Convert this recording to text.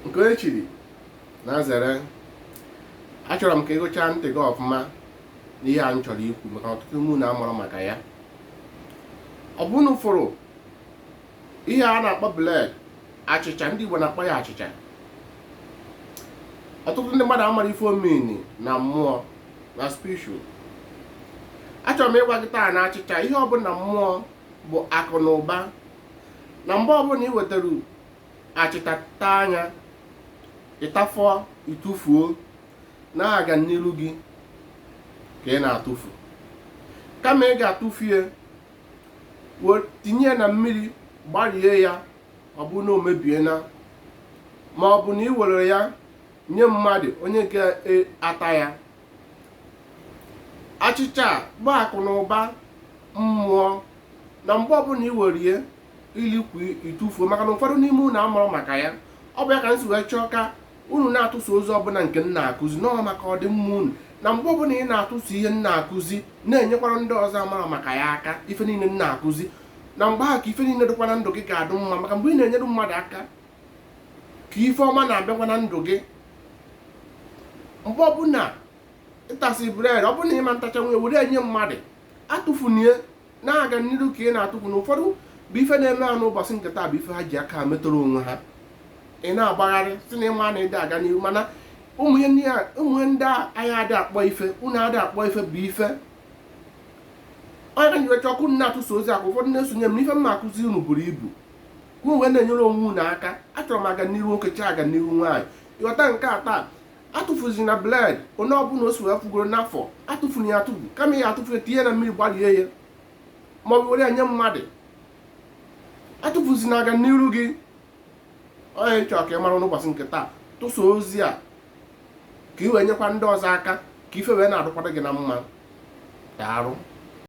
nke onye chiri nya zere achọrọ m ka i gechaa ntị gị ọfụma n'ihe a m chọrọ ikwu maka na ọtụtụ n'ime unu amarọ maka ya ọ bụ unu fụrụ ihe a na-akpọ bread achịcha ndị Igbo na-akpọ ya achịcha ọtụtụ ndị mmadụ amarọ ife ọ mean na mmụọ na spiritual achọrọ m ịgwa gị taa na achịcha ihe ọ bụ na mmụọ bụ akụ na ụba na mgbe ọbụla ị wetara achịcha taa nya ị tafọ ị tụfuo na ọganiru gị ka ị na-atụfu kama ị ga-atụfu ya tinye ya na mmiri gbarie ya ọ bụ na o mebiena ma ọ bụ na ị were ya nye mmadụ onye ga e, ata ya achịcha bụ akụ na ụba mmụọ na mgbe ọbụla i were ya i likwu ị tụfuo maka na ụfọdụ n'ime unu amarọ maka ya ọ bụ ya ka m si wee chọọ ka unu na-atụsa ozi ọbụla nke m na-akụzi na ọ maka ọdịmma unu na mgbe ọbụla ị na-atụsa ihe m na-akụzi na-enyekwara ndị ọzọ amarọ maka ya aka ife niile m na-akụzi na mgbe ahụ ka ife niile dịkwa na ndụ gị ga-adụ mma maka mgbe ị na-enyere mmadụ aka ka ife ọma na-abịakwa na ndụ gị mgbe ọbụla ị tasị bread ọ bụrụ na ị ma atacha ya were ya nye mmadụ atụfuna ya na ọganiru ka ị na-atụfu na ụfọdụ bụ ife na-eme ha n'ụbọchị nke taa bụ ife ha ji aka metara onwe ha ị na-agbagharị sị na ị ma na ị dị aga n'ihu mana ụmụ ihe ndị a anyị adị akpọ ife unu adị akpọ ife bụ ife ọ nya ka m ji wee chọọ ka unu na-atụsa ozi a ka ụfọdụ na-esonye m n'ife m na-akụzi unu buru ibu unu wee na-enyere onwe unu aka achọrọ m ọganiru nwoke chọọ ọganiru nwaanyị ị ghọta nke a taa atụfuzina bread onye ọbụla o si wee fugoro n'afọ atụfuna ya atụfu kama ị ya-atụfu ya tinye na mmiri gbalie ya ma ọ bụ were ya nye mmadụ atụfuzina ọganiru gị ọ nya m chọrọ ka ị mara n'ụbọchị nke taa tụsa ozi a ka ị wee nyekwa ndị ọzọ aka ka ife wee na-adụkwara gị na mma daalụ